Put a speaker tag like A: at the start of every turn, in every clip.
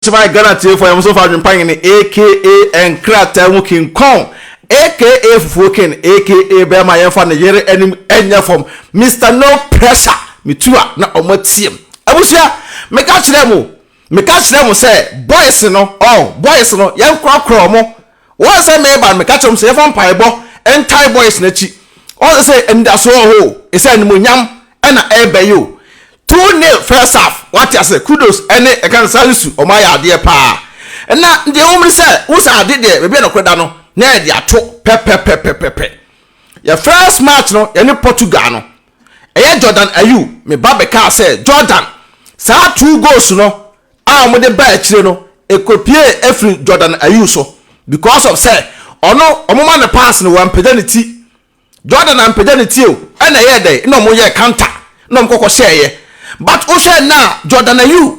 A: Try Ghana atiefo a yɛn nso fa adwempa nyene aka nkrataa mu kinkɔn aka fufuo ken aka bɛɛma yɛn fa ne yere anim nyɛ fam Mister no pressure me tu a na ɔmo atiem abusua me ka kyerɛ mo me ka kyerɛ mo sɛ boys no oh boys no yɛn korɔkorɔ ɔmo Wɔn sɛ meba no meka kyerɛ wɔn sɛ yɛfa mpaebɔ ntae boys no akyi wɔn sɛ anidasoɔ wɔ hɔ o ɛsɛ animonyam ɛna ɛɛbɛ yi o two nil first half wate ase kudos ɛne ɛka no saa nsu wɔn ayɛ adeɛ paa na deɛ ɛwɔ mu no sɛ wo sɛ ade deɛ baabi a nɔkorɛ da no na yɛde ato pɛpɛpɛpɛpɛ yɛ first match no yɛne Portugal no Ɛyɛ Jordan Ayew, me ba bɛkaa sɛ, Jordan, saa two goals no a wɔde baa akyire no, ɛkɔpiee ɛfiri Jordan Ayew so because of sɛ ɔno wɔma no pass no wampagya ne ti. Jordan ampagya ne ti o, ɛna ɛyɛɛ dɛn na wɔyɛɛ counter na wɔkɔkɔhyɛeɛ. But wohwɛ nnɛ a Jordan Ayew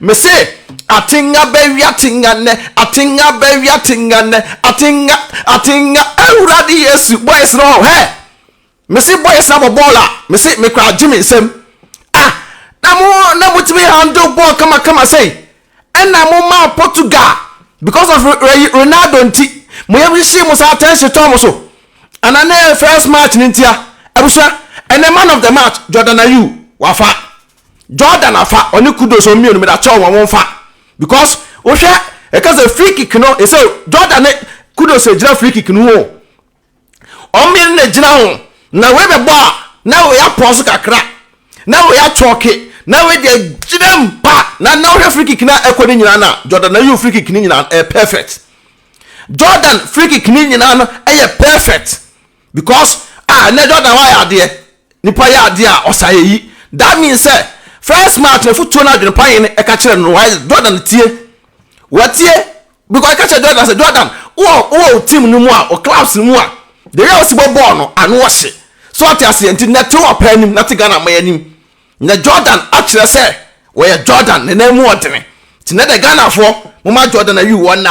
A: Mese atenga bɛwe atenga nnɛ, atenga bɛwe atenga nnɛ, atenga atenga awurade yesu boys no hɛ mese boys na bɔ bɔɔl a mese mekora agye me nsam ah na mo na motumi handle bɔɔl kamakama sɛi ɛna mo ma Portugal because of Ronaldo nti mo yam hyehye mo saa attention tɔ mo so ana ne first match no ntia abusua ɛnɛ man of the match Jordan Ayew wafa Jordan afa ɔne Kudus wɔn mmienu meda kyɛw wɔn wɔn fa because wohwɛ ɛka sɛ free kick no ɛsɛ Jordan ne Kudus ɛgyina free kick no ho wɔn mmienu na ɛgyina ho na wei bɛbɔ a na wei apɔ so kakra na wei atwɔke na wei deɛ gyina mu pa na na wohwɛ free kick na ɛkɔ ne nyinaa na Jordan na yiw free kick ne nyinaa ɛyɛ perfect Jordan free kick ne nyinaa no ɛyɛ perfect because ah ɛnɛ Jordan wa yɛ adeɛ nipa yɛ adeɛ a ɔsa yɛ yi that means sɛ first match na futuo na adwene pa yɛn no ɛka kyerɛ no why Jordan tie wɔtie because ɛka kyerɛ Jordan sɛ Jordan wɔ wɔ team no mu a wɔ clubs no mu a the way a wɔsi bɔ bɔɔl no ano ɔhye so ɔte aseɛ nti na te wɔ pɛ anim na te Ghana mɔ anim na Jordan akyerɛ sɛ wɔyɛ Jordan ne nan mu ɔdene nti na de Ghanafoɔ mo ma Jordan ayi wɔn na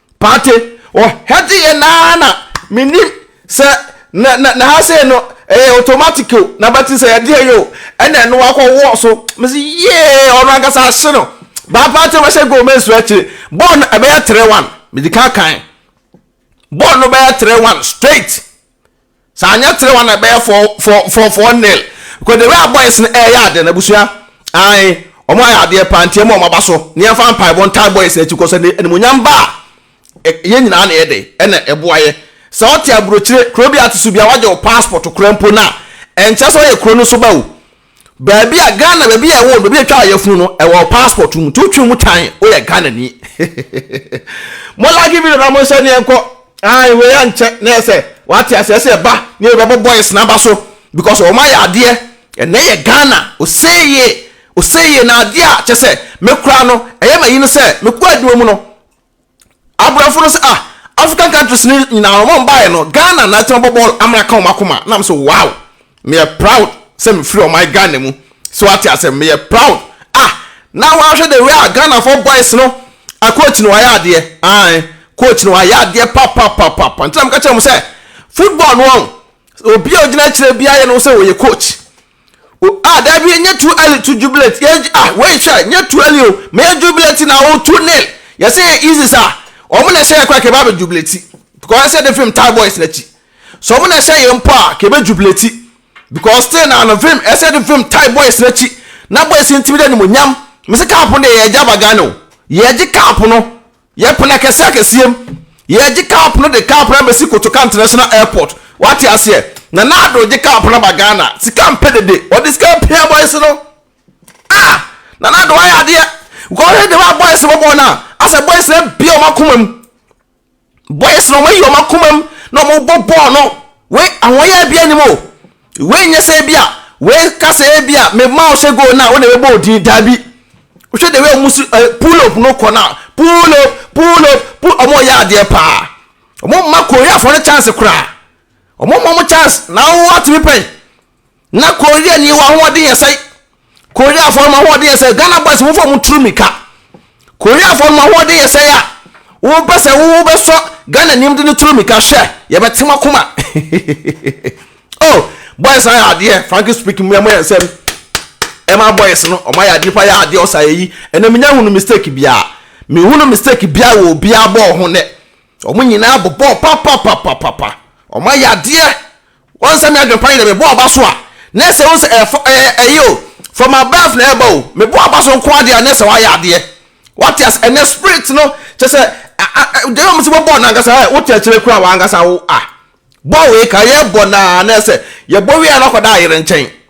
A: Paate, ɔhɛdze yɛn ara na mennim sɛ na na na ha sei no ɛyɛ automatic o na bɛte sɛ yɛde yɛyɛ o ɛna ɛno akɔwɔ so mese yee ɔno ankasa ahye no baa Paate bɛhyɛ goal ma nsu akyire bɔɔl no ɛbɛyɛ 3-1 mede ka kan bɔɔl no bɛyɛ 3-1 straight Sɛ anyɛ three one a ɛbɛyɛ four four four four nil because the way a boys no ɛɛyɛ ade no abusua ae wɔn ayɛ adeɛ paa nti ɛma wɔn aba so ne yɛnfa mpaebɔ ntae boys no akyi kɔ sɛ ne animonyam ba a yɛn nyinaa na yɛde ɛna ɛboa yɛ sɛ ɔte aburokyire kuro bi a to so bi a wagye wo passport kora mpo no a ɛnkyɛ sɛ ɔyɛ kuro no so ba o Baabi a Ghana baabi a ɛwɔ baabi a ɛtwa ayɛfunu no ɛwɔ passport mu nti wotwe mu tan woyɛ Ghana ni mo like video na mo nhyɛ ne nkɔ ayi wei ankyɛ na ɛsɛ wate asɛ ɛsɛ ɛba ne ɛbɛbɔ boys na aba so because wɔn ayɛ adeɛ ɛnɛ yɛ Ghana oseye oseye na adeɛ a kyɛ sɛ me kora no ɛyɛ ma yi no sɛ me kɔ adwuma mu no abrɔfo no sɛ ah African countries no nyinaa no wɔn baeɛ no Ghana na ɛtɛn bɔ bɔɔl amena ka wɔn akoma na sɛ wow meyɛ proud sɛ mefiri ɔman Ghana mu sɛ wate asɛm meyɛ proud ah na wɔahwɛ the way a Ghana for boys no a coach no wayɛ adeɛ ae coach no wayɛ adeɛ papapapapa nti na meka kyerɛ mo sɛ football no wɔn obi a ogyina akyire biara yɛ no sɛ wɔyɛ coach O ah da wie nyɛ too early to jubilate yɛ ah wei hwɛ nyɛ too early o ma yɛ jubilate na o too nail yɛ sɛ yɛ easy sa wɔn na ɛhyɛ yɛ kora kɛbɛ abɛ jubilate because ɛsɛ de film tie boys n'akyi sɛ wɔn na ɛhyɛ yɛ mpo a kɛbɛ jubilate because still na no film ɛsɛ de film tie boys n'akyi na boys ntumi de animonyam mese kaapo de yɛ gya bagane o yɛ gye kaapo no Yɛpene akɛseɛ akɛseɛ mu. Yɛregye cup no de cup no abɛsi Kotoka International Airport. Wate aseɛ? Nana Addo regye cup no aba Ghana. Sika mpɛ dede. Ɔde sika apia boys no. Ah! Nana Addo wayɛ adeɛ. Kɔhwɛ deɛ wa boys bɔbɔɔ no a, asɛ boys no abie wɔn akoma mu. Boys no wɔn ayi wɔn akoma mu na wɔn bɔ bɔɔl no. Wei ahoɔyɛ abia anim o. Wei nyɛ sɛ ebia wei ka sɛ ebia mema wo hyɛ goal no a wo na ɛbɛbɔ wo din daabi wohwɛ the way ɔmo si eh, pull up no kɔ no a pull up pull up pull ɔmo yɛ adeɛ paa ɔmo ma koreafoɔ no chance koraa ɔmo ma ɔmo chance na wo atumi pɛn na koreani wɔ ahoɔden yɛ sɛe Koreafoɔ no ahoɔden yɛ sɛ Ghana boys wofa mu turu mika Koreafoɔ no ahoɔden yɛ sɛ ya wopɛ sɛ wo bɛsɔ Ghana nim de ne turu mika hwɛ yɛbɛte mo akoma oh boys ayɛ adeɛ frankly speaking mo yɛ mo yɛ nsɛm ɛma boys no ɔmo ayɛ adeɛ pa yɛ adeɛ ɔsa yɛ yi ɛna menya hunu mistake biara mehunu mistake biara wɔ obiara bɔɔ ho nɛ ɔmo nyinaa bɔbɔɔ papapapapapa ɔmo ayɛ adeɛ Wɔn sɛ me adwempa nyɛ dɛ mebɔ aba so a na ɛsɛ wo sɛ ɛfɔ ɛɛ ɛyɛ o from above na ɛba o mebɔ aba so nko ara deɛ a na ɛsɛ wayɛ adeɛ wate ase ɛnɛ spirit no kyɛ sɛ deɛ wɔn sɛ wɔbɔ no ankasa ɛ wote akyire kura wɔn ankasa wo a bɔ wei ka yɛ bɔ naa na ɛsɛ yɛbɔ wei a na akɔda ayere nkyɛn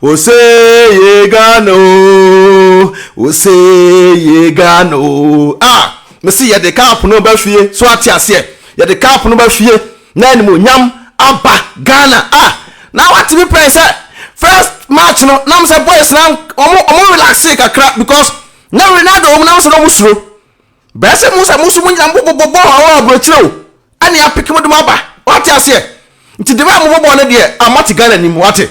A: Ose ye Ghana oh, ose ye Ghana oh. Ah, mese yɛde cup no ba fie, so ate aseɛ. Yɛde cup no ba fie, na animuonyam aba Ghana. Ah, na wate me pɛn sɛ first match no, nam sɛ boys na ɔmo ɔmo relaxee kakra because na Ronaldo wɔm, nam sɛ na ɔmo suro. Bɛyɛ sɛ mo sɛ mo nso mo nyina mo bobɔ bɔɔl wɔ aburokyire o, ɛne apeke mo de mo aba, wate aseɛ. Nti de bɛ a mo bɔ bɔɔl no deɛ, ah, mo ate Ghana nim, wate.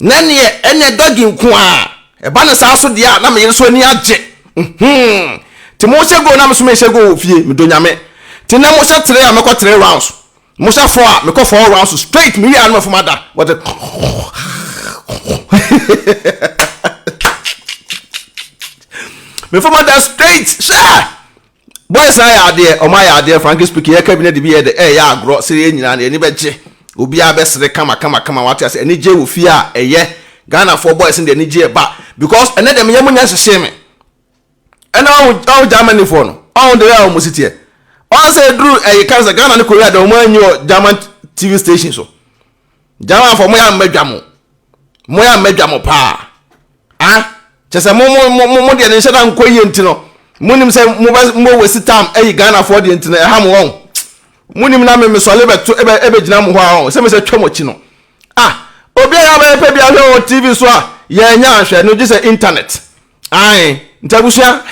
A: na neɛ ɛnyɛ dɔge nko ara ɛba no saa so deɛ a na me yere so ani agye hmm te mo hyɛ goal na me so me hyɛ goal wɔ fie me dɔ nyame te nɛ mo hyɛ three a me kɔ three rounds mo hyɛ four a me kɔ four rounds straight me wie a na me fom ada wɔde me fom ada straight hyɛ Boys no ayɛ adeɛ, wɔn ayɛ adeɛ, frankly speaking, yɛka bi na de bi yɛ dɛ, ɛreyɛ agorɔ, sɛ yɛn nyinaa no yɛn ani bɛgye, obiara bɛsere kama kama kama, wate aseɛ, anigyeɛ wɔ fie a ɛyɛ, Ghanafoɔ boys no deɛ anigyeɛ ba, because ɛnnɛ deɛ meyɛ mo nya hyehyee me, ɛna ɔho ɔho Germanyfoɔ no, ɔho deɛ a wɔn si teɛ, ɔho sɛ ɛduru ɛyɛ kan sɛ Ghana ne Korea deɛ wɔn anyi wɔ German TV station so. German fo mo ya mmadwa mo mo ya mmadwa mo paa a kyɛ sɛ mo mo mo mo deɛ ne nhyɛ da nkɔ yie nti no mo nim sɛ mo bɛ mo wasi tam ayi Ghana fo deɛ nti no ɛha mo wɔn mo nim na me me sɔle bɛ to ɛbɛ ɛbɛ gyina mo hɔ a wɔn sɛ me sɛ twɛ mo akyi no ah obi a yabɛyɛ pɛ bi ahwɛ wɔ TV so a yɛn nya ahwɛ no gye sɛ internet ae nti abusua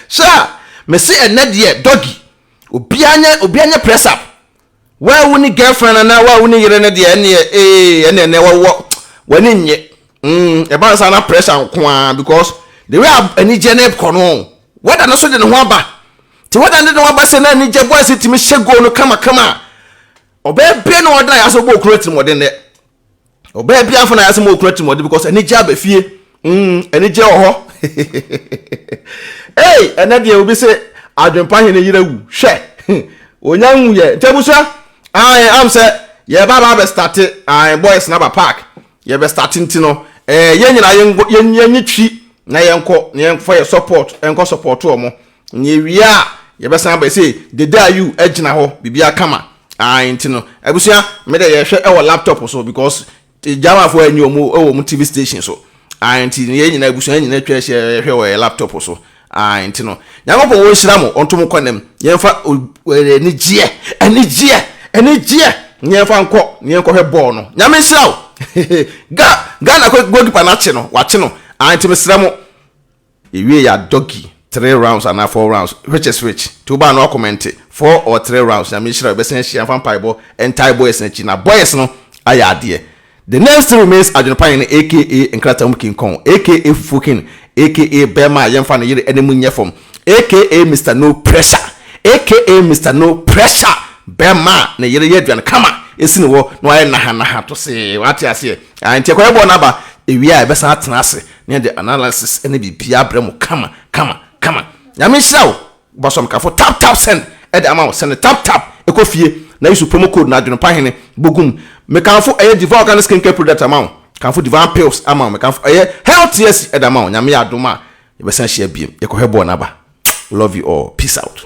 A: sɛ a mesi ɛnɛ deɛ dɔgi obi anya obi anya press up Wawu ne girlfriend anaa wawu ne yere no deɛ ɛneɛ ee ɛneɛ ɛneɛ wɔwɔ w'ani nnye mm ɛba nsa na pressure nko ara because the way a anigyeɛ no kɔ no wɛda no so de ne ho aba te wɛda no de ne ho aba sɛ na anigyeɛ boys tumi hyɛ goal no kamakama a ɔbɛyɛ bɛn na ɔda yɛ asɛ ɔbɔ okunu atirimɔden dɛ Ɔbaa bi afɔ na yasɛ mo okuna timɔde because anigye aba fie. Mm, anigye wɔ hɔ. Ei, ɛnɛ deɛ obi se adwempa hene yera wu. Hwɛ. Onya nwu yɛ. Ntabusua. Ai, am sɛ yɛ ba ba bɛ start ai boys na ba park. Yɛ bɛ start nti no. Eh, yɛ nyina yɛ yɛ nyi twi na yɛ nkɔ na yɛ nkɔ yɛ support, nkɔ support wɔn. Na yɛwie a yɛbɛsan aba ɛsɛ dede a you agyina hɔ biribiara kama ae nti no abusua me dɛ yɛhwɛ ɛwɔ laptop so because German fo ɛnyɛ ɔmo ɛwɔ ɔmo TV station so ae nti no yɛn nyinaa abusua nyinaa atwa ahyia yɛhwɛ wɔ yɛ laptop so ae nti no Nyankopɔn wɔn hyira mo ɔnto mo kɔ nam yɛnfa anigyeɛ anigyeɛ anigyeɛ na yɛnfa nkɔ na yɛnkɔ hwɛ bɔɔl no Nyame nhyira wo Ghana goalkeeper no akye no wakye no ae nti mesrɛ mo Yɛwie yɛ a doggy three rounds anaa four rounds which is which? Nti wo baa no akɔmɛnte four or three rounds Nyame nhyira wo bɛsan ahyia mfa mpaebɔ ntae boys no akyi na boys no ayɛ adeɛ The name still remains Adwene pa hene aka nkrataa mu king kong aka fufuo king aka bɛɛma a yɛmfa ne yere anim nyɛ fam aka Mister no pressure aka Mister no pressure bɛɛma a ne yere yɛ aduane kama si ne hɔ na wayɛ naha naha tosee wate aseɛ ae nti ɛkɔyɛ bɔɔ no aba ɛwie a ɛbɛsan atena ase Ne de analysis ne biribiara brɛ mo kama kama kama Nyame nhyira wo Bosom kafo tap tap send de ama wo send no tap tap kɔ fie na use promo code no adwenpa hene bogu mu Me kamfo ɛyɛ Diva organic skin care product ama wo kamfo Divine pills ama wo Me kamfo ɛyɛ health tease ɛde ama wo Nyame yɛ adom a yɛbɛsan ahyia biem yɛkɔ hwɛ bɔɔl no aba Love you all peace out.